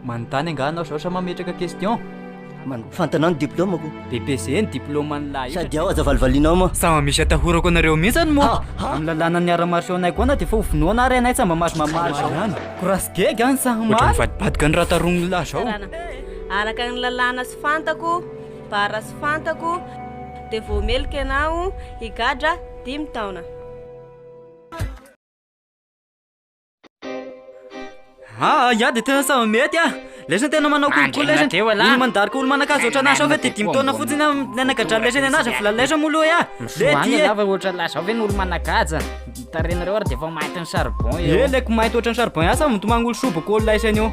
Manontany angaha anao zao sa mametraka question? Man- Fantanao ny diplaomako? BPC ny diplaoman'ny lahy io Sady ao aza valivalianao moa. Sama misy atahorako anareo mihintsy any moa. Amin'ny lalàna ny art martiaux anay koana dia efa hovonoana ary anay tsy mba mahazo mamaly izao ihany. Courage gega any sa Ohatran'ny maly. vadibadika ny raha taronin'ny lahy zao. Karana. Araka ny lalàna sy fantako, bara sy fantako, dia vao meloka ianao higadra dimy taona. Ah, ya dia tena samy mety ah. Lesy tena manao kolokolo lesy. Olo mandary ko olo manakazo ohatranà sao ve dia dimy taona fotsiny ah, nanagadrany lesy ny anazy vola lesy moa loha ah. Le dia. Lava ohatranà sao ve ny olo manakaja. Tarenareo ary dia efa mainty ny charbon eo. Eh, leko mainty ohatran'ny charbon ihany sao mitomagny olo soa boko olo lesy anio.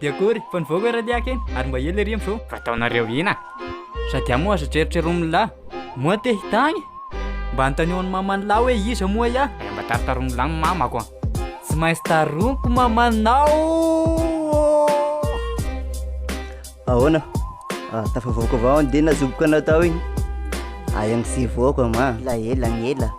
Dia akory fa nivoaka ery liaka iny ary mba ela ery amin'izao. Fa ataonareo ina? Sady amoa aza trerotreromin'lah. Moa te hitagny? Mba anontanio an'i maman'lah hoe iza moa iah? Aya mba taritaromin'lah ny mamako an! Tsy maintsy taroiko mamanao oh! Ahoana? Ah, tafavoaka avao an dia nazoboka anao tao iny. Aya ny tsy hivoaka ma. Ela ela ny ela.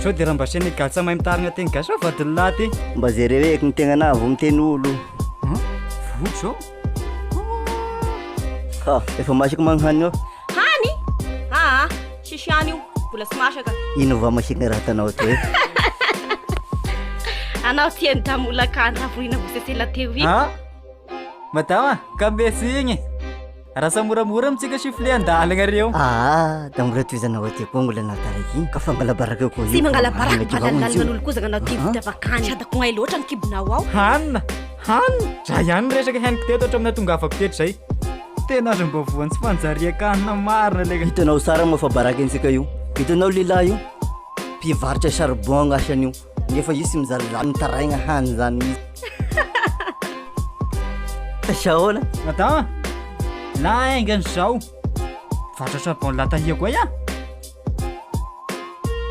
Sao dia Rambaseana Igatsa mahay mitarina teny gasy va vadin'i Lahy ty? Mba jereo eky ny tegnanà vao miteny olo. Hum? Voky zao. Ha, efa masaka magnhany eo. Hany? Aa, tsisy hany io, mbola tsy masaka. Ino va masika raha tanao to e? Anao ty an'i Damolaka an'i Ravohina Vosesela teo iny. Ah, madama, ka mbe tsy igny. Rasa moramora mitsika sifflet an-dalagna reo. Ah, da mbola tohizana ao aty koa mbola anao taraiky. Ka fangalabaraka koa io. Tsy mangalabaraka fa lalinalina an'olo koa zakanao ty vita bakany. Tsy atako ngay loatra ny kibonao ao. Hanina, hanina. Za ihany resaka henoko teto hatramin'ny atongavako teto zay. Tena aza mba voan'ny tsy fanjarian-kanina marina le. Hitanao tsara moa fa baraka antsika io. Hitanao lehilahy io? Mpivarotra charbon asan'io. Nefa io tsy mizaly zany mitaraigna hany zany izy. Aiza ahoana? Madama, lainga an'izao. Vatratra bon latalia koa ya.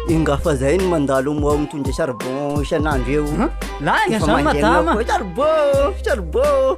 Inga fa zay no mandalo moa mitondra charbon isan'andro eo. Lainga zany madama. Charbon, charbon.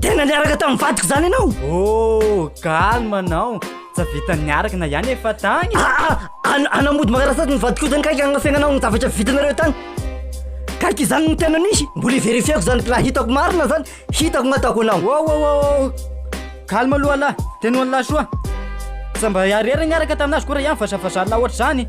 Tena niaraka tamin'ny vadiko izany ianao? Oh, calme anao. Tsy vitany niaraka na ihany efa tany. Ah, ah, anamody makarasady ny vadiko izany kaiky agnafiagnanao ny zavatra vitanareo tany. Kaiky izany no tena nisy. Mbola iverifiako izany raha hitako marina izany, hitako nataoko anao. Oh, oh, oh, oh. Calme aloha lahy. Tena ho an'lahy soa. Tsy mba hiarera niaraka tamin'azy koa raha ihany vazahavazanao ohatr'izany.